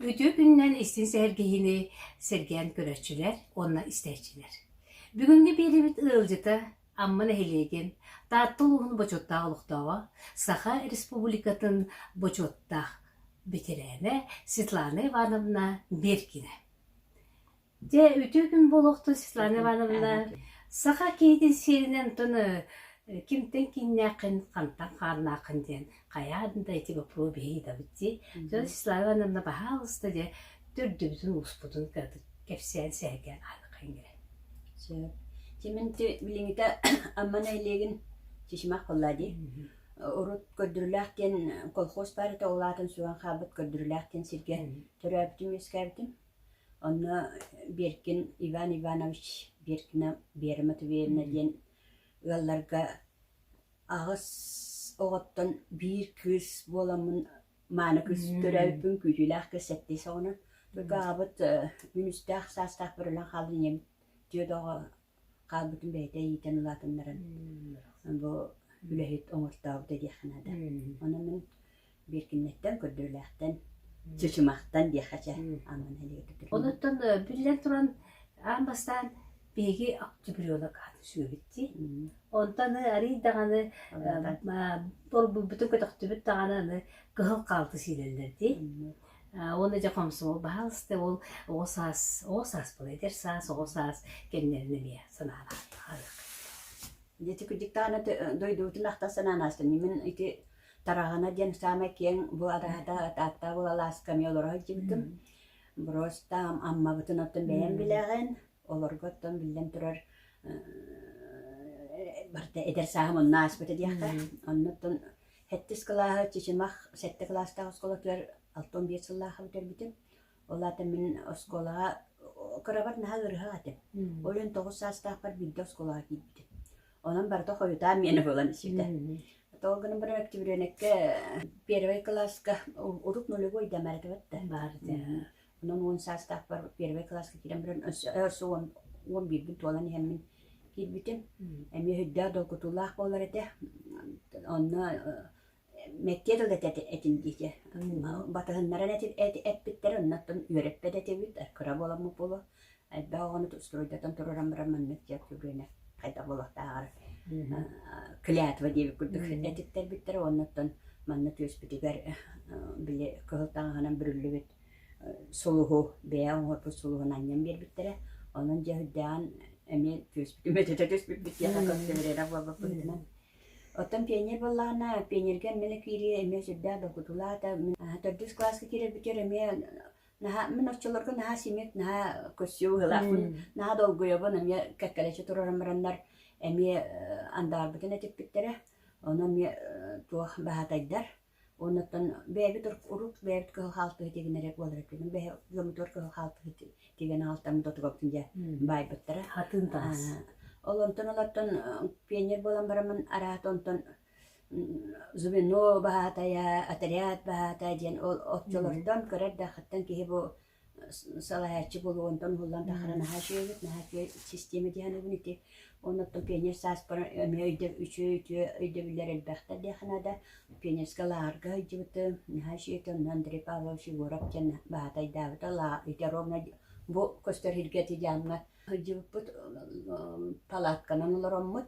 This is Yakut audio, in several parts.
Үтүө күнүнэн истин сэргиһини сэргээн көрөөччүлэр уонна истээччилэр. Бүгүҥҥү биэлибит ыалдьыта Амма нэһилиэгин Таатта улууһун бочуоттаах олохтооҕо, Саха Республикатын бочуоттаах бэтэрээнэ Светлана Ивановна Беркина. Дьэ, үтүө күн буолуохтун, Светлана Ивановна. Саха киһитин сиэринэн оттон кимтэн кииннээххин, хантан хааннааххын диэн хайаан да эти боппуруо биһиидабыт дии. Дьон Светлана Ивановна баһаалыста дьэ төрдүбүтүн успутун кыратык кэпсээн сэһэргээн ааныккын кэлэн. Сөп. Тиминти билиҥҥитэ Амма нэһилиэгин Чичимах буолла дии. Урут көрдүрүлээх диэн колхоз баар этэ, ол аатын сүгэн хаалбыт көрдүрүлээх диэн сиргэ төрөөбүтүм-үөскээбитим. Онно Беркин Иван Иванович Беркина Вера Матвеевна диэн ыалларга аҕыс оҕоттон биир кыыс буоламмын мааны кыыс төрөөбүппүн күүтүүлээх кыыс сэттис оҕонон только аҕабыт үнүстээх саастаахпар өлөн хаалан ийэбит дьиэ доҕо хаалбытын бэйэтэ иитэн улаатыннаран бу үлэһит оҥортообута диэххэ наада. Онон мин биир кинигэттэн көрдөрүүлээхтэн чычымахтан диэххэ чэ амманы илигэ түтүрүм. Онуттан биллэн туран аан бастаан биһиги Чебурелок аатын сүөбүттии. Онтон арыый даҕаны торбуйбутун көтөхтүбүт даҕаны аны кыһыл хаалты сиилэллэр дии. Уонна дьэ хомсомол баһаалыста ол оҕо саас оҕо саас буолла эдэр саас оҕо саас кэмнэрин эмиэ санаалаахтар Дьити куддиктаана дойдубутун ахта сананаастын мин ити тараҕана диэн саамай киэҥ бу араада таатта булалаасками олоро сылдьыбытым Бростам аммабытын оттон бэйэм билэҕин олорго оттон биллэн турар барыта эдэр сааһым онно ааспыта диэххэ онно оттон Сэттис кылааһы Чычымах сэттэ кылаастаах оскуолатыгар алта уон биэс сыллаахха бүтэрбитим. Ол аата мин оскуолаҕа кырабар наһаа ыарыһах этим. Ол иһин тоҕус саастаахпар биирдэ оскуолаҕа киирбитим. Онон барыта хойутаан миэнэ буолан ситэ. Тоҕо гынан баран октябрёнокка первый кылааска урут нулевой да мэрэтибэт да баар Онон уон саастаахпар первый кылааска киирэн баран өссө өссө уон уон биирбин туолан иһэммин киирбитим. Эмиэ өйдөөх долгутуулаах буолар этэ. Онно мэктиэ тылы да этин диэки батыһыннаран эппиттэрэ оннуттан үөрэппэт этибит кыра буоламмыт буолуо элбэх оҕону стройдатан тураран баран манна мэктиэ көлүөнэ хайда буолуохтааҕар клятва диэбит курдук этиттэрбиттэрэ оннуттан манна түөспүтүгэр били кыһыл таҥаһынан бүрүллүбүт сулуһу бэйэ оҥорбут сулуһун анньан биэрбиттэрэ онон дьэ үрдээҕин эмиэ түөспүтүн мөтөтө түспүппүт диэхэ көстүбэтэҕэ буолбут быһыытынан оттон пионер буоллаҕына пионерга эмиэ киириэ эмиэ сүрдээх долгутуулаата мин төрдүс кылааска киирэрбитигэр эмиэ наһаа мин оччолорго наһаа симик наһаа көрсүө быһыылаахпын наһаа долгуйабын эмиэ кэккэлэччи турарын бараннар эмиэ андаарбытын этиппиттэрэ ону эмиэ туох баһатайдар Оннуттан бэйэбит урук бэйэбит кыһыл хаалтыһы тигэн эрэ буолар эбиккин бэһи дьоммутугар кыһыл хаалтыһы тигэн аҕалтаммыт отугабытын дьэ баайбыттара. Хатыын таҥас. Ол онтон олортон пионер буолан бараммын араата онтон звено баһаатайа, отряд баһаатайа диэн ол оччолортон кыра эрдэхиттэн киһи бу салайааччы буолуо онтон уһуллан тахара наһаа үчүгэйбит наһаа үчүгэй систиэмэ диэхинэбин ити онуттан пионер сааспар эмиэ өйдөб үчүгэй үтүө өйдөбүллэр элбэхтэр диэххэ наада пионерскай лааҕырга сылдьыбытым наһаа үчүгэй этэ онно Андрей Павлович Егоров диэн баһаата айдаабыта лаа ити ровно бу көстөр сиргэ ити дьаамҥа сылдьыбыппыт палатканан олороммут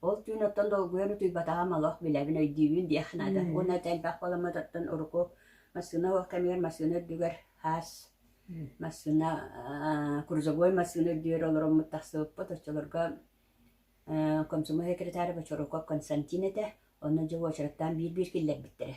Ол түүн оттон долгуйан утуйбатаҕым олох билэбин, өйдүүбүн диэх наада. Уонна это элбэх боломуот оттон урукку массыына ол кэмигэр массыына үрдүгэр хаас массыына аа, крузовой массыына үрдүгэр олороммут тахсыбыппыт. Оччолорго э, комсомол секретаря Бочаруков Константин этэ. Онно дьэ уочараттаан биир-биир киллэрбиттэрэ.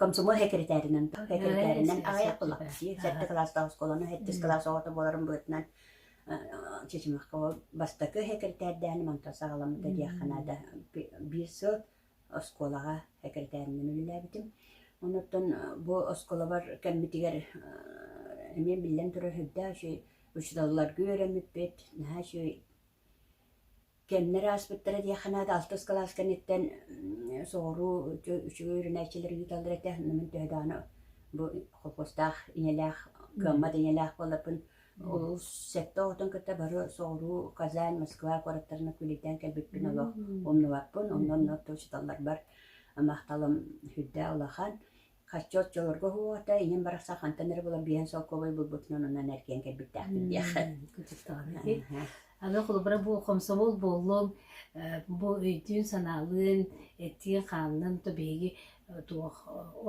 комсомол секретаринан секретаринан аҕыйах кылаакчы сэттэ кылаастаах оскуоланы сэттис кылаас оҕото буоларын быһытынан Чечемахка бастакы секретардааны мантан саҕаламмыта диэххэ наада биир сыл оскуолаҕа секретаринан үлэлээбитим онуттан бу оскуолабар кэммитигэр эмиэ биллэн турар сүрдээх үчү учууталларга үөрэммиппит наһаа үчүгэй Кэмнэр ааспыттара диэххэ наада, алтыс кылаас кэнниттэн соҕуруу үчүгэй үөрэнээччилэр ыыталлар этэ, оннугун төһө даҕаны бу холкуостаах ийэлээх, гаммат ийэлээх буолларбын, олус сэттэ оҕотун кытта бары соҕуруу Казань, Москва куораттарына күлэйдээн кэлбиппин олох умнубаппын, онно онно учууталларбар махталым үрдэ улахан. Хаччы оччолорго уһуота ийэм барар сархантан эрэ булар биэһин солкуобай булбутунан онон эргийэн кэлбиттээхпин диэх. Кырдьыктаҕына. Аны холобура бу хомсомол буоллун, бу өйдүүн-санаалыын, этиин-хаанын то биһиги туох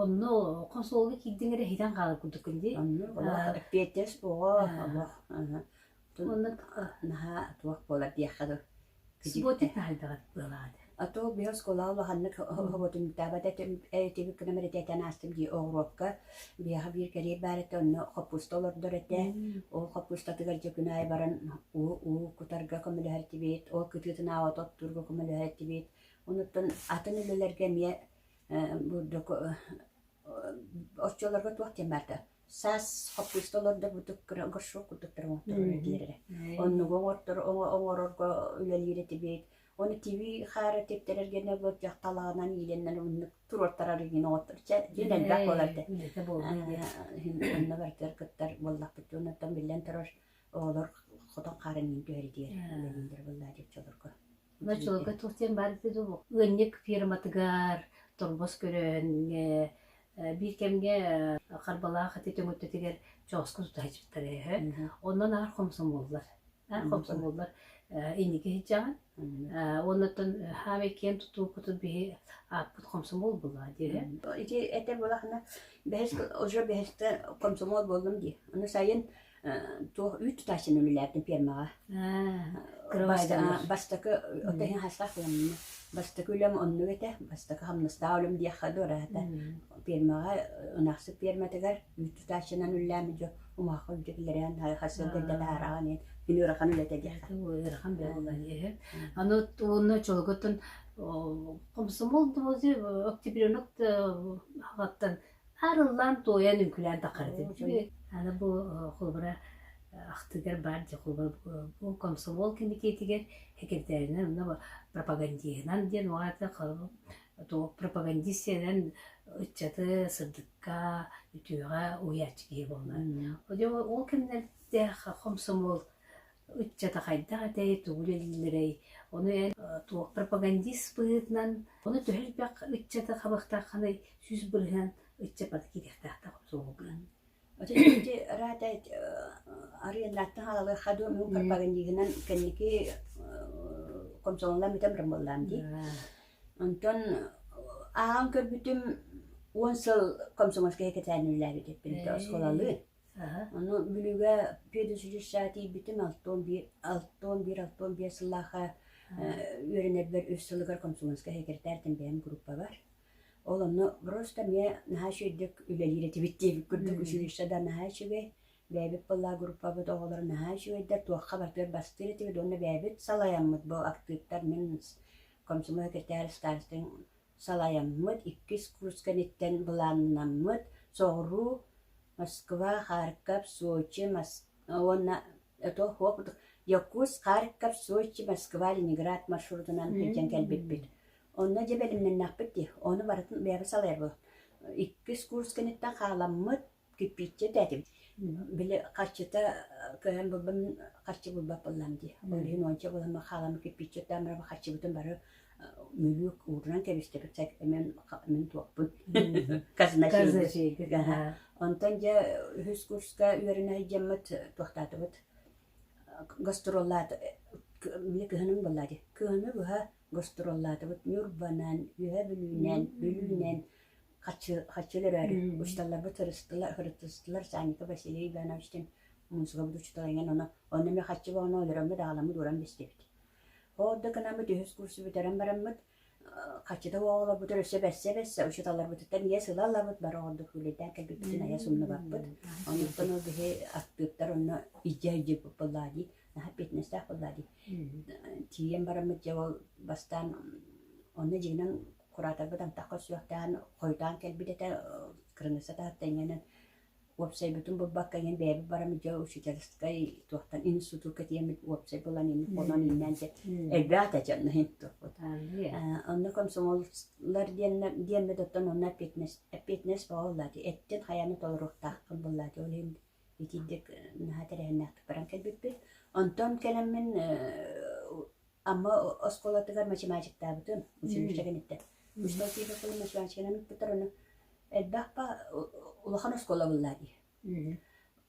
онно хомсомолго киирдиҥ эрэ иһитэн хаалар курдуккун дии. Онно олох эппиэтинэс оҕо олох Уонна наһаа туох буолар диэххэ дылы. Субботник хаһыйдаҕыт быалаҕыт? А то биһир оскуолаҕа улаханнык хоботунтаабат этим этибит гына мэритэтэн аастым дии оҕуруопка биһиэхэ биир кэриэт баар этэ онно хоппуста олордор этэ ол хоппустатыгар дьэ күн аайы баран уу уу кутарга көмөлөһөр этибит ол кытыытын ааута оттуурга көмөлөһөр этибит онуттан атын үлэлэргэ эмиэ бурдук оччолорго туох диэн баарда саас хаппыыста олордорбутук кыра горшок курдуктар оҥорторору биэрэрэ. Оннугу оҥортору оҥорорго үлэлиир этибит. Оны тиви хаары типтэрэргэнэ бу дьахталаанан иилэннэн муннук туруортарар иин оҥоттор. Чэ, дин элбэх буоларда. Үлэтэ буолла диир. Онно барытыгар кыттар буоллахпыт. Оннуттан биллэн турар оҕолор хотон хаарын иин түһэри диир. Үлэлииллэр буолла диир чолорго. Ночевка туох диэн баар эбит дуу? Ыанньык фирматыгар торбос көрөөҥҥө биир кэмҥэ харбалаах ити төҥүттэтигэр чооска тута сыдьахтара үһү. Онон аар хомсомуоллар. Аар хомсомуоллар инники сыдьаҕын. Уонуттан хаамай киэн тутуукутут биһи ааппыт хомсомуол була диэһэ. Ити этэ буолахына бэһис уже бэһисте хомсомуол буоллум дии. Аны сайын туох үүт тутааччыны үлэлээбитим пиэрмэҕэ бастакы оттон иһин хастаах ыаммыны бастакы үлэм оннук этэ бастакы хамнастаах үлэм диэххэ дуу ыраата пиэрмэҕэ ынахсыт пиэрмэтигэр үүт тутааччынан үлэлээмит дьо умаахха үлдьэтилэрээн хас сыл дэлдэ таарааҕын иһин мин ыарахан үлэтэ диэххэ ыарахан буолла иһин аны уонна чолготун комсомол дубузи октябренок хаттан Арыллаан туойан үҥкүлээн таххарытын үчүгэй. Аны бу холобура ахтыгар баар дьэ холобура бу комсомол кэмитиэтигэр секретаринан онно пропагандиһынан диэн угаата пропагандистинан ыччаты сырдыкка үтүөҕэ уһуйааччы киһи буолла. Ол кэмнэрдэ комсомол ыччата хайдах этэй, тугу үлэлииллэрэй, ону эн туох пропагандист быһыытынан, ону төһө элбэх ыччаты хабахтаххыный, сүүс бырыһыан ыччапата кириэхтээхтэх суолуган. Ити раата арыйаннааттан халалыахха дуо мун пропагандигынан кэнники комсолонлам бүтэн брамыллаам дии. Онтон аан көрбүтүм уон сыл комсомольскай кэтээнүүллээбит эппин осколалыы. Ону Бүлүүгэ педучилище тиийбитим алтыан биир алтыан биир алтыан биэс сыллаахха үөрэнэрбэр үс сылыгар комсомольскай секретаритын бэйэм группабар. Ол онно просто эмиэ наһаа үчүгэйдик үлэлиир этибит диэбит курдук училище да наһаа үчүгэй. Бэйэбит быллаа группабыт оҕолоро наһаа үчүгэйдэр туохха батыар бастыыр этибит уонна бэйэбит салайаммыт бу актыыптар мин комсомол секретарь старостын Салайаммыт иккис курсканиттан былааннаммыт соҕуруу Москва, Харьков, Сочи уонна Якутск, Харьков, Сочи, Москва, Ленинград маршрутунан илдьэн кэлбиппит. Онно дьэ бэлэмнэннэхпит дии, ону барытын бэйэбит салайарбыт. Иккис курс кэнниттэн хааламмыт кирпииччэ этээтим били харчыта кыайан булбам харчы булбаппыллам дии ойуун уонча буолан хаалам кирпииччэттэн бары харчыбытын бары мүлүк уурунан кэбистэбит эмэн мин туохпун казначейга онтон дьэ үһүс курска үөрэнэ илдьэммит туохтаатыбыт гастроллаат били кыһынын булла дии кыһыны быһа гастроллаатыбыт ньурбанан үһэ бүлүүнэн бүлүүнэн Хаччылөрөөрү учууталларбыт хырыттыстылар Санька Василий Ивановичтыын муусукабыт учуутала иҥэн ону онно эмиэ хаччы боҕону олороммут аҕаламмыт ууран бистибит. Ол ордук гынаммыт үһүс курсу бүтэрэн бараммыт хаччыта оҕолорбутун өссө бэрсэ-бэрсэ учууталларбытыттан иэс ыла ылабыт бары ордук үлэйдээн кэлбиппитин айа сумнубаппыт. Онтон ол биһи аттыыттар онно издьэ-издьэ буллаа дии наһаа пятнадцатаах буллаа дии. Тиийэн бараммыт дьэ ол бастаан онно дьиҥинэн кураторбыт антахха сүөхтээн хойутаан кэлбит этэ кырыныысса таһыттан иҥэнэн уопсайбытын булбакка иҥэн бэйэбит баран дьэ учительскай туохтан институтка тиэммит уопсай булан инник буолан иннээн дьэ элбээх да дьонно интукпут онно комсомоллар диэннэр диэммит оттон онно опетнес опетнес бооллаати эттин хайаны толоруохтаахпын буллаати ол иһин итиирдик наһаа тэрээһиннээхтик баран кэлбиппит онтон кэлэммин Амма оскуолатыгар математиктаабытым, училище кэнниттэн. Быстал киһи кылым математиканан ыппыттар ону. Элбэх па улахан оскуола буллаа дии.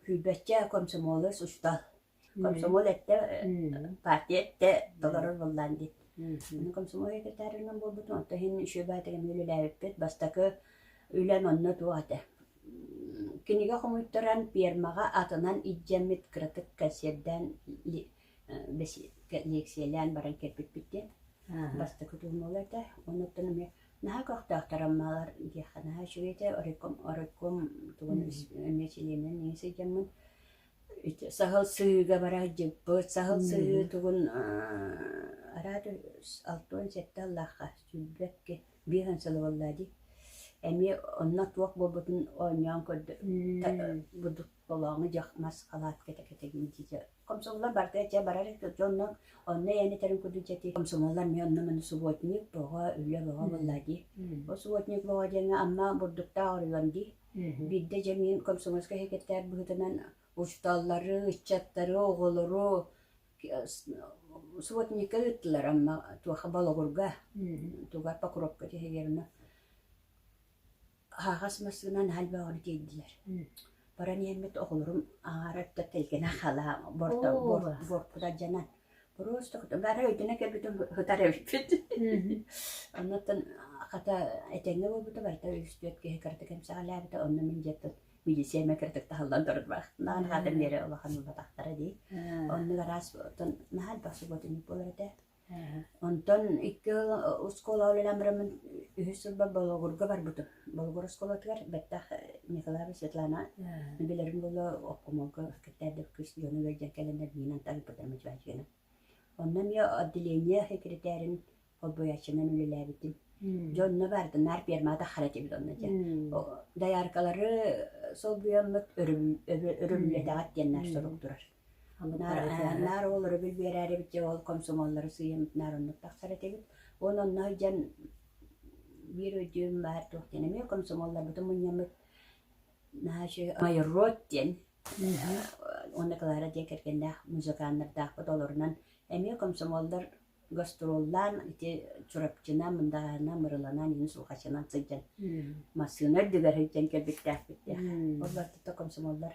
Күүрбэччэ комсомолец устал. Комсомол этте, партия этте, толорор буллаан дии. Мин комсомол секретарынан буолбутум, оттон иһин үшө баатыгам үлэлээбиппит, бастакы үлэн онно туох этэ. Кинигэ хомуйтаран, пермаҕа атынан илдьэммит кыратык кэнсиэрдээн лиэксийэлээн баран кэлбиппит диэн бастакы туомула этэ онуттан эмиэ наһаа көхтөөхтөр аммалар диэххэ наһаа үчүгэй этэ оройком оройком тугун эмиэ чилиэнинэн ньии сылдьаммын саһыл сыһыыга бара сылдьыппыт саһыл сыһыы тугун араат алтыан сэттэ аллаахха сүүрбэккэ биир ан сылы буоллаа дии эмиэ онно туох буолбутун оонньоон көрдө толооҥу дьах мас халаатката кэтэгин дии комсомоллар барда дьэ барар дьонно онно янитарын кудун чати комсомоллар ми онно маны субботник бога үлэ бога булла ди о субботник бога диэҥэ амма бурдуктаа орулан ди бидde жемин комсомольска хекеттер быһытынан учталлары ыччаттары оголору субботникка ыттылар амма туоха балогурга тугар покровка тиһегерна Аһаҕас массыынаны наһаа элбэҕини тиэйдилэр. Баран иһэммит оҕолорум аҥаара өттө тэлгэнэ халаан борто бор борпута дьанан просто бары өйдөнө кэлбитин ытар эбиппит. Оннуттан хата этэҥҥэ буолбута барыта үс-түөрт киһи кыратык эмсэҕэлээбитэ онно мин дьэ тыл медициэмэ кыратык таһыллан турбахтаан хаатын биэрэ улахан улатахтара дии. Оннук араас оттон наһаа элбэх субботунньук буолар этэ. Онтон икки ыал оскуола үлэлээн үһүс сылбар Болугурга барбытым. Болугур оскуолатыгар бэттэх Николаева Светлана билэрин буолла обкомолго кыттаардыбыт кыыс дьону ыалдьан кэлэннэр миинэн тарыыппытым мичилээччигинэн. Онно эмиэ отделение секретэрин холбооччунан үлэлээбитим. Дьэ онно баарытын наар пермата таххара этибит онно дьэ. Дояркалары солбуйаммыт өрөбүллэтэҕит диэн наар сорук турар. Наар оҕолору билбиэрээрибит, дьэ ол комсомоллору сыыйаммыт наар оннук тахсар этибит. Уон онно сылдьан биир өйдүүм баар туох диэн эмиэ комсомоллорбутун мунньаммыт наши мои род диэн уонна Клара диэн кэргэннээх музыканнардаахпыт олорунан эмиэ комсомоллор гастроллаан ити Чурапчына, Мындаҕаана, Мырыланаан, Инус Улхачынан сылдьан массыына үрдүгэр сылдьан кэлбиттээхпит диэх. Ол барытыта комсомоллор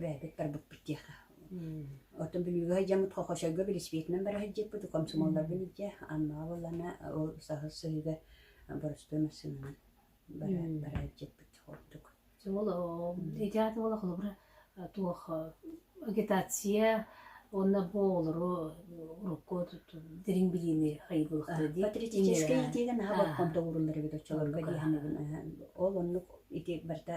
бэйэбиттэрбит диэхэ оту бүлүүгэ сылдьаммыт хохочойго велосипедынан бара сылдьыппыт комсомолларбын илдьэ аннаа буоллана ол саһыл сыһыыга боростуой массыынанан бара бара сылдьыппыт ордук ол идеята буола холобура туох агитация уонна бу олору урукку дириҥ билиини хайбылыктыы патриотическай диигэн аһа боккон тоҕуруллар эбит оччолорго диэхэмэбин ол оннук ити барыта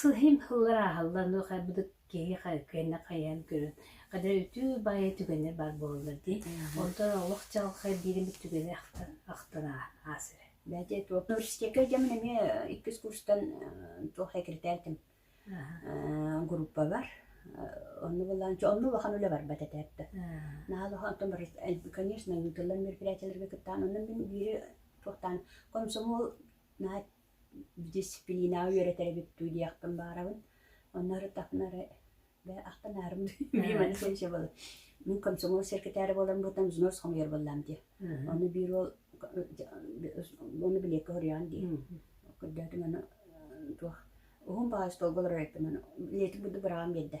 Сыһым һыллар ааһаллануох аарбыт киһи киэнэ хайаан көрөн кадыр үтүү баайа түгэннэр баар буолаллар дии онтон олох чалхай биирин түгэнэ ахтан аасыра бэди университетке дьэмин эмиэ иккис курстан туох секретариtim группа бар онну булан онну улахан үлэ барбат этээппэ наал онтон бар конечно ыытыллар мероприятияларга кыттаан оннун мин биири туохтаан комсомол дисциплинаҕа үөрэтэр эбиппин диэхпин баарабын. Ону эрэ таһынары ахтанаарым биир маны сенсия буолла. Мин комсомол секретарь буолан бытан взнос хомуйар буоллам дии. Ону биир ол ону билиэккэ хоруйаан дии. Көрдөөтүм аны туох уһун баҕайы столболар ырайпын аны летик будду быраҕан биэрдэ.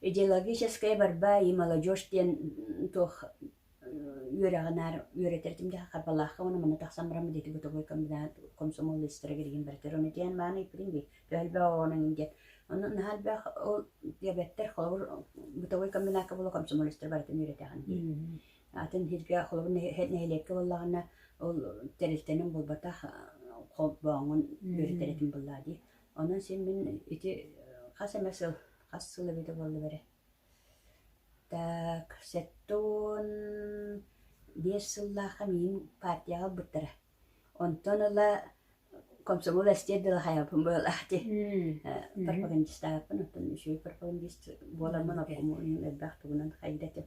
Идеологическая борьба и молодежь диэн туох үөрэҕи наар үөрэтэр этим дии харбалаахха уонна манна тахсан баран ити бытовой комсомол история гэригин барытар оны диэн мааны иппитин би төһөлбө оонын диэн онно наһаа элбэх ол диабеттер холобур бытовой комбинатка була комсомол история барытын үөрэтэҕин дии атын сиргэ холобур нэһилиэккэ буоллаҕына ол тэрилтэнэн буолбатах холбооҥун үөрэтэр этим буоллаа дии Онон син мин ити хас эмэ сыл, хас сыл эбитэ буоллум эрэ. Так, сэттэ уон биэс сыллаахха миигин партияҕа ылбыттара. Онтон ыла комсомол эстиэр дылы хайабын быһылаах дии. пропагандистаабыппын, оттон үчүгэй пропагандист буоламмын, оппомуон элбэх тугунан хайыыр этим.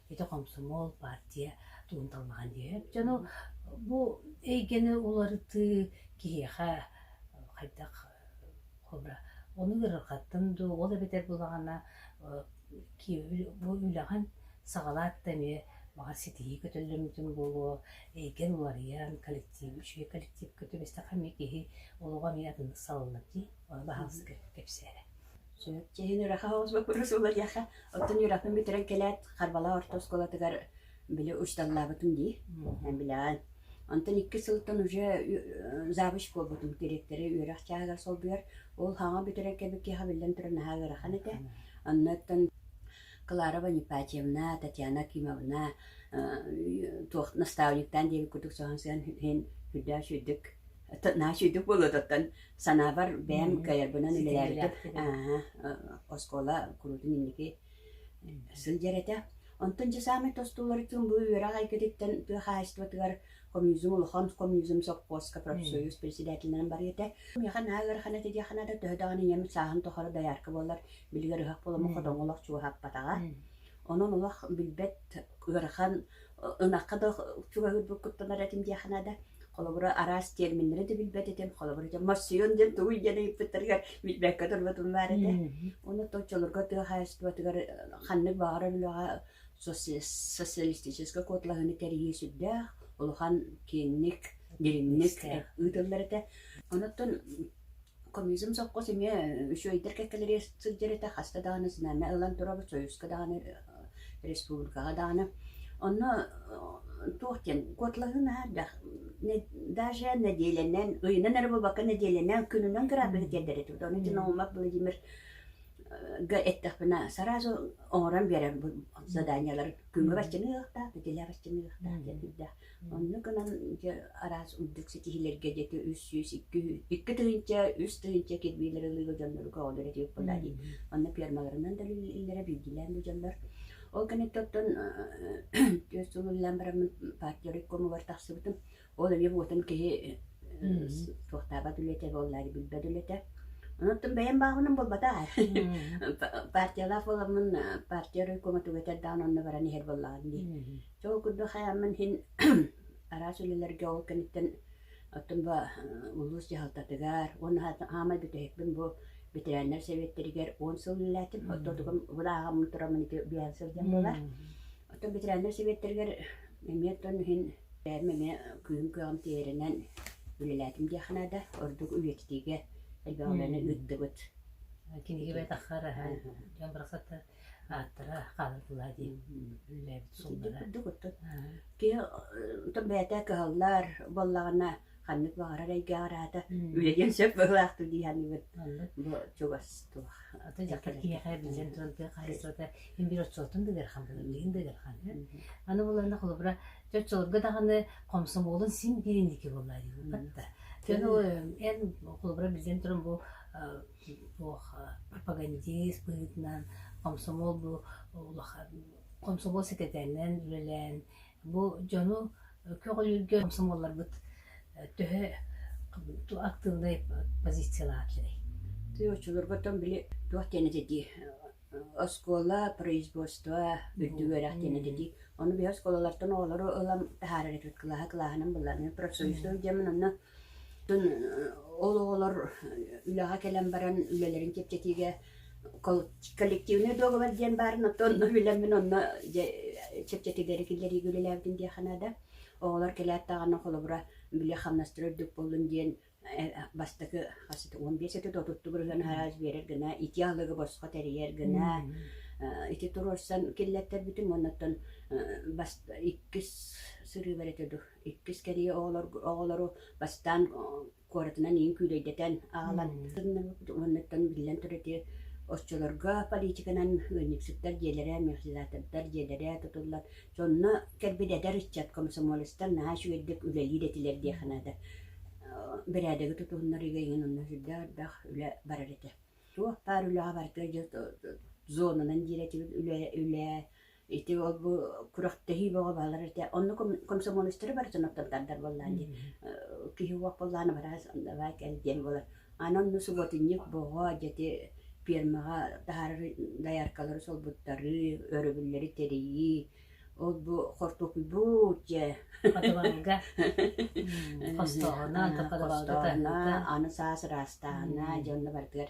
ити хомсомуол партия тугун талмахан диэн дьону бу эйгэни уларытыы киһиэхэ хайдах хобра ону ыарырҕаттан дуу ол эбэтэр булаҕана бу үлэҕин саҕалаат да эмиэ маҕар ситиһии көтөллөммүтүн буолуо эйгэн уларыйан коллектив үчүгэй коллектив көтүбэстэхэ эмиэ киһи олоҕо эмиэ атыннык салалла дии ону баһаалыста кэпсээрэ чэһин үрэххэ оҕуспуппут суулатыахха оттон үрэхпин бүтэрэн кэлээт харбала орто оскуолатыгар били учталлаабытым дии билэҕин онтон икки сылтан уже завуч буолбутум дириэктэрэ үөрэх чааһыгар солбуйар ол хаҥа бүтэрэн кэбик киэхэ биллэн туран наһаа ыарахан этэ оннуттан Кларова Непатьевна Татьяна Кимовна туох наставниктаан диэбит курдук соһон сыан иһин үрдөөш үрдүк Нач үрдүк болуотаттан санаабар бэйэм каярбынан үлэлээбитим. Оскуола куруутун инники сылдьар этэ. Онтон дьэ саамай тостуулар тылым бу үөрэх айгытыттан тыа хаһаайыстыбатыгар коммунизм улахан коммунизм сопхуоска профсоюз председателинэн бар этэ. Миэхэ наһаа ыарахан этэ диэххэ да төһө даҕаны ийэм сааһын тухары доярка буоллар билигэр ыһыах буоламмын хотоҥҥолох чугаһаппатаҕа. Онон олох билбэт ыарахан ынахха да чугаһыырбын куттанар этим диэххинэ да, холобура араас терминнэри да билбэт этим, холобура этим морсион диэн тугуй диэн ыйыппыттарыгар билбэккэ турбутум баар этэ. Уонна оччолорго тыа хаһаайыстыбатыгар ханнык баҕарар үлэҕэ социалистическай куоталаһыыны тэрийии сүрдээх улахан киэҥник, дириҥник ыытыллар этэ. Онуттан Комизм сокуос эмиэ үчүгэйдик кэккэлэрэ сылдьар этэ, хаста даҕаны сынама ылан туруорбут, союзка даҕаны, республикаҕа даҕаны. Онно туох диэн, куоталаһыы наһаа элбэх. Даже нэдиэлэнэн, ыйынан эрэ буолбакка, нэдиэлэнэн, күнүнэн граппыһы тиэрдэр этэ. Ону итин Олмак Владимирга эттэхпинэ, сразу оҥорон биэрэр бу заданиелар. Күҥҥэ баччаны ыһыахтаах, битилэ баччаны ыһыахтаах диэн сүрдээх. Онно гынан дьэ араас үрдүк ситиһилэргэ дьэти үс сүүс икки икки тыһыынча үс тыһыынча кирбиилэри ылыыга дьоннору көҕүллэр этибит буоллаа дии. Онно пиармаларынан да үлэлииллэрэ билгилээн да дьоллор. Ол кэнниттэн оттон түөрт сыл үлэлээн бараммын партия райкомугар тахсыбытым. Ол эмиэ буотан киһи туохтаабат үлэтэ буоллаа дии билбэт үлэтэ. Оттон бэйэм бааҕынан буолбатаар. Партиялаах буоламмын партия райкома түгэтэр даҕан онно баран иһэр буоллаҕым дии. Чөл курдук хайааммын иһин араас үлэлэргэ ол кэнниттэн оттон бу улуус дьаһалтатыгар уонна аамай бүтэһикпин бу ветераннар сэбиэттэригэр он сыл үлэлээтим. Оттон бу ааҕаммын тураммын ити биээн сылдьан буолар. Оттон ветераннар сэбиэттэригэр эмиэ тон иһин бэйэм эмиэ күүһүм кыаҕым тиэринэн үлэлээтим диэх наада. Ордук үйэтитиигэ элбэх үлэни ыыттыбыт. Кинигэ бэтэх хараһа, дьон барахсаттар ааттара хаалытыла диэн үлэлээбит суоллара киһи отон бэйэтэ кыһаллар буоллаҕына ханнык баҕарар эйгэ араата үөйэн сөп быһылаахтык дии саныыбын бу чугас туох аты дьахтар киэхэ билсэн туран тыа хаһыйсата мин бир отчуоттун дыгырхан билин дыгырхан аны булана холобура чочолорго даҕаны комсомолун син биринники болла дии батта эн холобура билден туран бу Туоха пропагандист быһыытынан комсомол бу улахан комсомол секретарынан үлэлээн бу дьону көҕүлүүргэ комсомолларбыт төһө актыыбынай позициялаах этэй? Ты очулургутун били туох тенети ди оскуола производство үрдүгөрэх тенети ди ону би оскуолалартан оҕолору ылам таһаарар этит кылааһа кылааһынан булларны профсоюзду дьамын онно Ол оҕолор үлэҕэ кэлэн баран үлэлэрин чэпчэтиигэ коллективный договор диэн баарын оттон онно билэммин онно дьэ чэпчэтиилэри киллэриигэ үлэлээбитим диэххэ наада. Оҕолор кэлээт даҕаны холобура били хамнастыыр ордук буоллун диэн бастакы хас ити уон биэс ити да отуттугур ыһыан араас биэрэр гына ити аһылыгы босхо тэрийэр гына ити туруорсан киллэртэрбитим уонна оттон бас иккис сырыыбар ити иккис кэрие оҕолору бастаан куоратынан иин күүлэйдэтэн аҕалан уоннаттан биллэн турар ити оччолорго политиканан ыанньыксыттар дьиэлэрэ механизатордар дьиэлэрэ тутуллан сонно кэлбит эдэр ыччат комсомолецтар наһаа үчүгэйдик үлэлиир этилэр диэхэ наада бэрээдэги тутуһуннарыыга иҥин онно сүрдээх ардах үлэ барар этэ туох баар үлэҕэ барыта зонанан диир этибит үлэ үлэ Ити ол бу күрэхтэһии бөҕө баалар этэ. Онно комсомолецтары барытын оттон тардар буоллаан дии. Киһи уох буоллаана бара давай кэл диэн буолар. Аны онно субботинник боҕо дьэти фермаҕа таһаарары дояркалары солбуттарыы, өрөбүллэри тэрийии, ол бу хортуоппуйбут дьэ хотубалга хостоҕуна хостооҕуна аны саас ыраастааһына дьонно барытыгар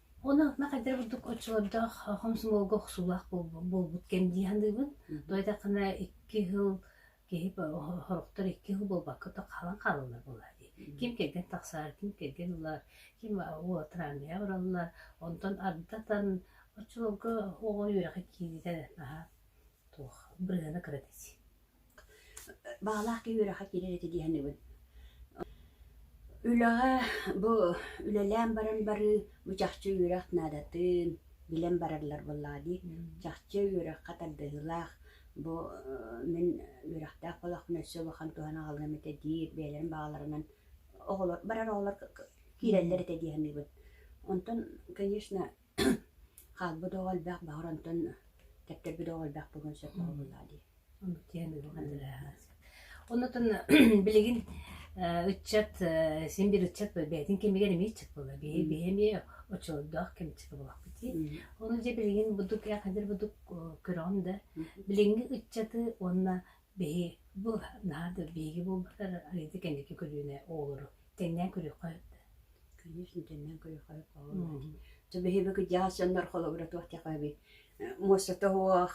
Оны ме хайдары курдук оччолордоох хомсомуолга охсуулаах буолбут кэм дии саныыбын. Тоҕо диэтэххинэ икки сыл киһи сорохтор икки сыл буолбакка то хаалан хаалаллар буоллаҕа дии. Ким кэргэн тахсар, ким кэргэн ылар, ким уолатырааҥҥыйа бараллар. Онтон ардытан оччолорго оҕону үөрэххэ киириитэ наһаа туох бырыһыана кыра дии. баҕалаах киһи үрэххэ киирэр этэ дии саныыбын. Үлэҕэ бу үлэлээн баран барыы бу чахчы үөрэх наадатын билэн бараллар буоллаҕа дии. Чахчы үөрэххэ тардыһыылаах бу мин үөрэхтээх буолахпына өссө улахан туһаны аҕалыам этэ диир бэйэлэрин баҕаларынан оҕолор барар оҕолор киирэллэр этэ дии саныыбын. Онтон, конечно, Хаалбыт оҕо элбэх баҕар онтон кэптэрбит оҕо элбэх буолуон сөп оҕолордоох дии оннуттан билигин ыччат син биир ыччат бэйэтин кэмигэр эмиэ ыччат буолар биһи биһи эмиэ оччолордоох кэмчитэ буолуохпут дии ону дьэ билигин бурдук ээх эдэр бурдук көрөҕүм да билиҥҥи ыччаты уонна Биһи бу наһаа да биһиги буолбатар Алита кэнники көлүөнэ оҕолору тэҥнээн көрүөххэ да конечно тэҥнээн көрүөххэ оҕолору дьэ биһиги кырдьаҕас дьоннор холобура туох диэххэ муостатоох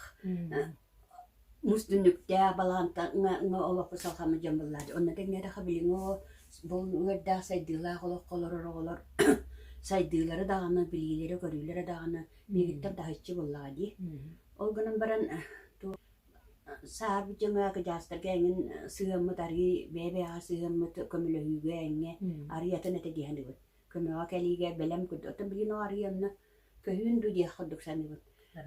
муус түннүктээх балаантаҥҥа олох кусалхаммыт дьон буоллар онно тэҥнээтэххэ билиҥҥи бу ыҥырдаах сайдыылаах олоххо олорор оҕолор сайдыылары даҕаны билиилэрэ көрүүлэрэ даҕаны биһигиттэн таһыччы буоллаҕа дии ол гынан баран Саар дьоно акыдьаастарга эҥин сыһыаммыт арыый бэйэ-бэйэҕэ сыһыаммыт көмөлөһүүгэ эҥҥэ арыый атын этэ дии саныыбын. Көмөҕө кэлиигэ бэлэм курдук оттон билигин ол арыый онно көһүүн дуу диэх курдук саныыбын.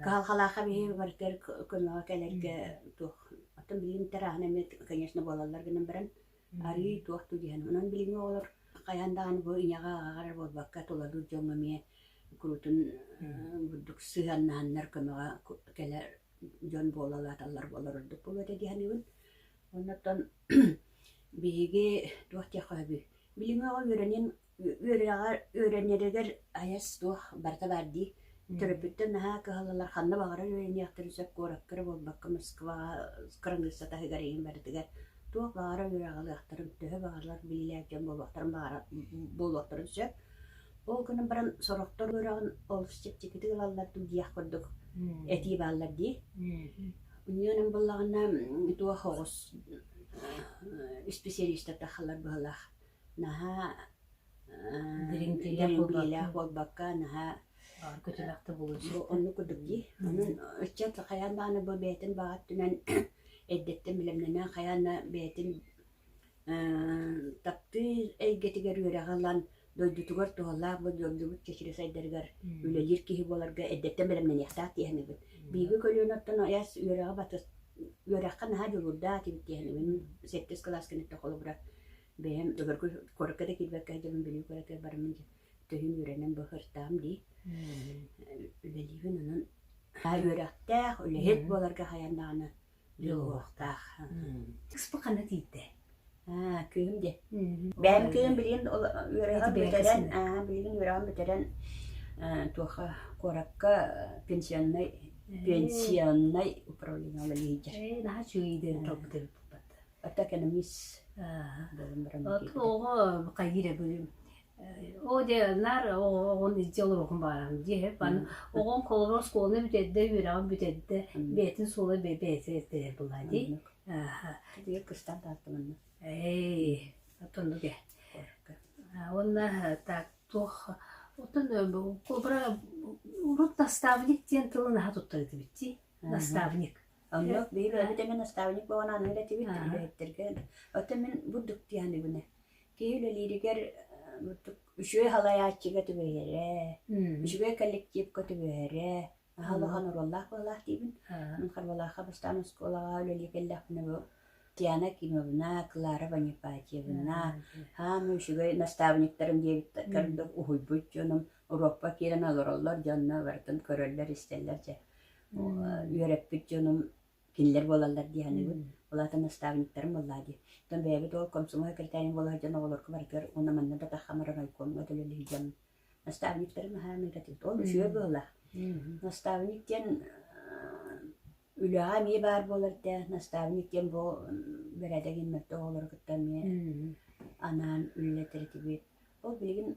Кыһалҕалаахха биһиги барытыгар көмөҕө кэлэргэ туох оттон билигин тэрээһин эмиэ конечно буолаллар гынан баран Арыый туох да диһэн, онон билиҥҥи оҕолор хайаан даҕаны бу ийэҕэ аҕаҕар эрэ буолбакка, тулалыыр дьоҥҥо эмиэ куруутун бурдук сыһыаннаһаннар көмөҕө кэлэр дьон буола улааталлар буолар ордук буолуо этэ дии саныыбын. Оннуттан биһиги туох диэххэ сөбүй? Билиҥҥи оҕо үөрэниэн үөрэнэригэр үөрэнэригэр айас суох барыта баар дии төрөппүттэр наһаа кыһаллалар ханна баҕарар үөрэниэхтэрин сөп куоракка эрэ буолбакка москваҕа кыраныысса таһыгар иһин барытыгар туох баҕарар үөрэҕэлиэхтэрин төһө баҕарар билиилээх дьон буолуохтарын баҕара буолуохтарын сөп ол гынан баран сорохтор үөрэҕин олус чэпчэкитик ылаллар дуу диэх курдук этии бааллар дии инньэ гынан буоллаҕына туох оҕус исписэлиистэр тахалар быһалаах наһаа дэриҥкилээх буолбакка наһаа оннук курдук дии онон ыччат хайаан даҕаны бу бэйэтин баҕар түмэн эрдэттэн бэлэмнэнэ хайаан да бэйэтин таптыыр эйгэтигэр үөрэҕи ылан дойдутугар туһалаах бу дойдубут чэчири сайдарыгар үлэлиир киһи буоларга эрдэттэн бэлэмнэниэхтээх дии саныыбын биһиги көлүөнэттэн айас үөрэҕи батыс үөрэххэ наһаа дьулуурдаах этибит дии саныыбын сэттис кылаас кэнниттэн холобура Бэйэм өлөргө куоракка да киирбэккэ сылдьабын, Бүлүү куоракка бараммын дьэ төһүүн үөрэнэн бу сырдаам дии. Үлэлиибин онон үөрэхтээх, үлэһит буоларга хайаан даҕаны дьулуһуохтаах. Экспо ханна тиийдэ? Аа, кыыһым диэ. Бэйэм кыыһым билигин ол үөрэҕин бүтэрэн, аа, билигин үөрэҕин бүтэрэн аа, туохха куоракка пенсионнай пенсионнай управлениеҕа үлэлиир. Наһаа үчүгүйдик толкуйдуурбут Ата экономист оҕо хайыра бүгүн о де нар оҕон илдьэ олоруохун баарам дии бан оҕон колоро оскуоланы бүтэрдэ үөрэҕин бүтэрдэ бэйэтин суола бэйэтэ этэрэ була дии Тиге кыстан тааттыманна. Эй, оттон дуге. Онна так тух оттон кобра урут наставник диэн тылын аха туттарыты битти наставник Онно биһиги эбэтэ мин наставник буолан аныгыр этибит үлэһиттэргэ. Оттон мин бурдук дианыбына. Киһи үлэлииригэр бурдук үчүгэй халаайааччыга түбэһэрэ, үчүгэй коллективка түбэһэрэ, аһал-ахан оруоллаах буолаах диибин. Мин Харбалаахха бастаан оскуолаҕа үлэлии кэллэхпинэ бу Диана Кимовна, Клара Ванипатьевна, хаама үчүгэй наставниктарым диэбит курдук уһуйбут дьонум Уруокпа киирэн олороллор дьонно барытын көрөллөр-истэллэр дьэ үөрэппит дьонум кинилэр буолаллар дии саныыбын. Улаатан наставниктарым буоллаа дии. Оттон бэйэбит ол комсомол секретарийн буола сылдьан оҕолорго барытыгар уонна манна да тахамаран ойкуомҥа төлөлүү дьон наставниктарым аһаамыыта тиит. Ол үчүгэй буолла. Наставник диэн үлэҕэ эмиэ баар буолар да наставник диэн бу бэрээдэгин мөлтөх оҕолору кытта эмиэ анаан үлэлэтэр этибит. Ол билигин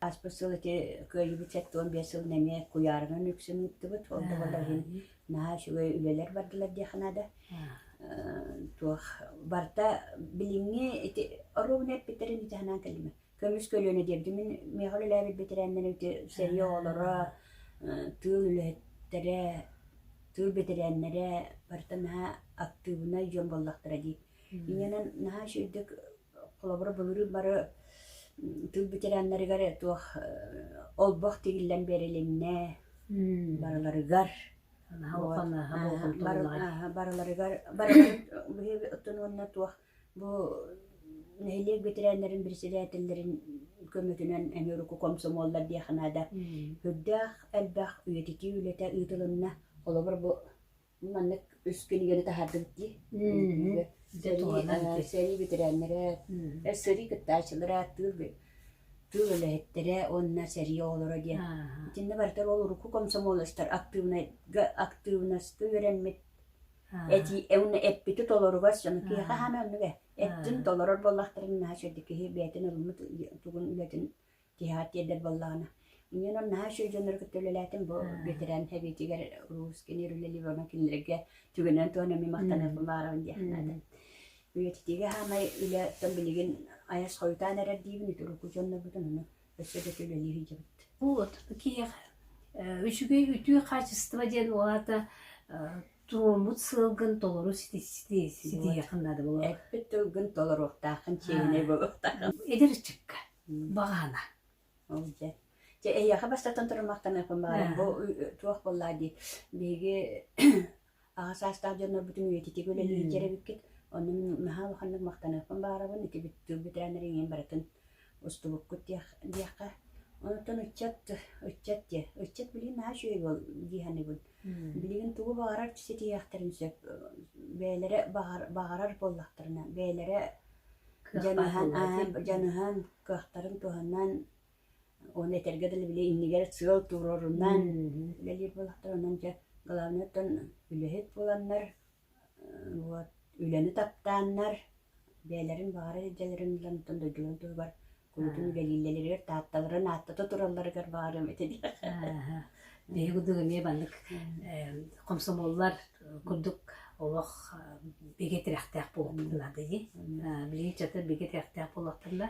Аспыт сыл ити кыайыыбыт сэттэ уон биэс сылын эмиэ куйаарынан үксүн ыыттыбыт. Ол да буоллар иһин наһаа үчүгэй үлэлэр бардылар диэххэ наада. Туох барыта билиҥҥи ити оруобуна эппиттэрин ити санаан кэллим. Көмүс көлүөнэ диэбитим мин миэхэ үлэлээбит бэтэрээннэрим ити сэрии оҕолоро, тыыл үлэһиттэрэ, тыыл бэтэрээннэрэ барыта наһаа актыыбынай дьон буоллахтара дии. Иннэнэн наһаа үчүгэйдик Холобура, былырыын бары тыыл ветераннарыгар туох олбох тигиллэн биэрилиннэ, барыларыгар барыларыгар биһиги оттон уонна туох бу нэһилиэк ветераннарын председателлэрин көмөтүнэн эмиэ урукку комсомоллар диэхэ наада. Үрдээх элбэх үйэтитии үлэтэ ыытылынна. Холобур, бу маннык үс кинигэни таһаардым дии үҥкүүгэ сэрии бэтэрээннэрэ сэрии кыттааччылара тыыл тыыл үлэһиттэрэ уонна сэрии оҕолоро диэн итиннэ барытар ол урукку комсомолецтар актыыбынайга актыыбынаска үөрэммит эти уонна эппити толоругар сону киһиэхэ хаана оннуга эттин толорор буоллахтарын наһаа сөрдү киһи бэйэтин ылыммыт тугун үлэтин тиһаат тиэрдэр буоллаҕына. Инньэн ол наһаа үчүгэй дьоннору кытта үлэлээтим бу ветеран эбиитигэр Русскини Юлия Львовна кинилэргэ түгэнэн туһана эмиэ махтаныахпын баҕарабын диэх наада. Үйэтитиигэ хаамай үлэттэн билигин айас хойутаан эрэр диибин үтүрүкү дьоннорбутун ону өссө да үлэлии сылдьабыт. Вот киһиэхэ үчүгэй үтүө хаачыстыба диэн уолата туоммут сыалгын толору ситиһиэххин наада буолуо. Эппит тылгын толоруохтааххын, чиэһинэй буолуохтааххын. Эдэр ыччакка Баҕана. Ол дьэ. Дьэ, эйиэхэ бастатан туран махтаныахпын баҕарам. Бу туох буоллаа дии. Биһиги аҕа саастаах дьоннорбутун үйэтитик үлэлиир эбиккит. Ону наһаа улаханнык махтаныахпын баҕарабын. Ити тыл бүтээннэр иҥин барытын устубуккут диэххэ. Онутун ыччат, ыччат диэ. Ыччат билигин наһаа үчүгэй уол дии саныыбын. Билигин тугу баҕарар ситиһиэхтэрин сөп. Бэйэлэрэ баҕарар буоллахтарына, бэйэлэрэ дьаныһан кыахтарын туһанан оны этэргэ дылы били иннигэр сыал туруорунан үлэлиир буолахтар онон дьэ главный оттон үлэһит буоланнар вот үлэни таптааннар бэйэлэрин баҕара илдьэлэрин ылан оттон дойдуларын туһугар куотун үлэлииллэригэр таатталарын ааттата туралларыгар баарым ити биһиги дуу эмиэ маннык комсомоллар курдук олох бигэ тирэхтээх буолуохтарына дии билигин чата бигэ тирэхтээх буолуохтарына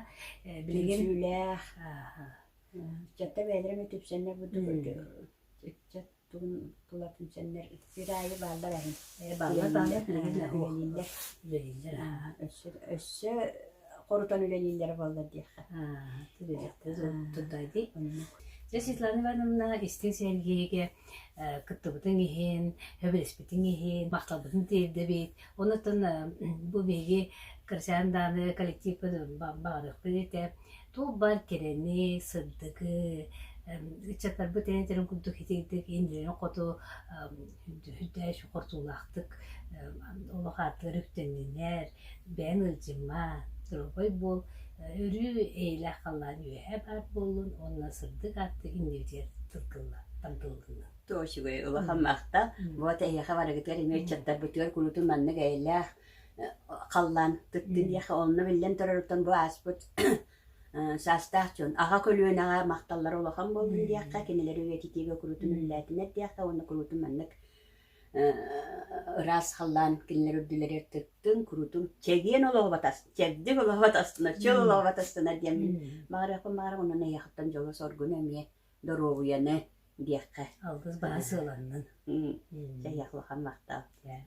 билигин аччата бээлэрэ үтүпсэннэр бу тугун тулатын сэннэр сир аайы бааллар аны ээ баллыннар үлэлииллэр үлэлииллэр өссө өссө хорутан үлэлииллэрэ буоллар диэххэ тудайды дьэ Светлана Ивановна истиҥ сэргиигэ кыттыбытыҥ иһин өбүлэспитиҥ иһин махталбытын тиэрдэбит онутун бу биһиги кырачаан дааны коллективпын баҕарыахпын этэ Туох-баар кэрэни, сырдыгы, ыччаттарбыт эйэлэрин курдук итиитик индирэн-хоту үрдээч хортуулаахтык олох ааттыгар үктэннинэр, бэйэҥ ыалдьыма, доруобай буол, өрүү эйэлээх халлаан үөһэ баар буоллун уонна сырдык ааттык иннибитигэр тылгылла, тамтыллынна. Тоо үчүгэй, улахан махта. Вот эһиэхэ барыгытыгар эмиэ ыччаттарбытыгар куруутун маннык эйэлээх халлаан кыттыниэхэ онно биллэн турарыттан бу ааспыт саастаах дьон аҕа көлүөнэҕэ махталлара улахан буоллун диэххэ кинилэри үйэтитиигэ куруутун үллээтинэт диэххэ уонна куруутун маннык ыраас халлаан кинилэр үрдүлэри тыттын куруутун чэгиэн олоҕо батаста чэбдик олоҕо батастына чөл олоҕо батастына диэн маҕарыахпын маҕарым онон эйэхиттэн дьолу соргуну эмиэ доруобуйаны диэххэ алгыс баҕа сыаланнын дьайах улахан махтал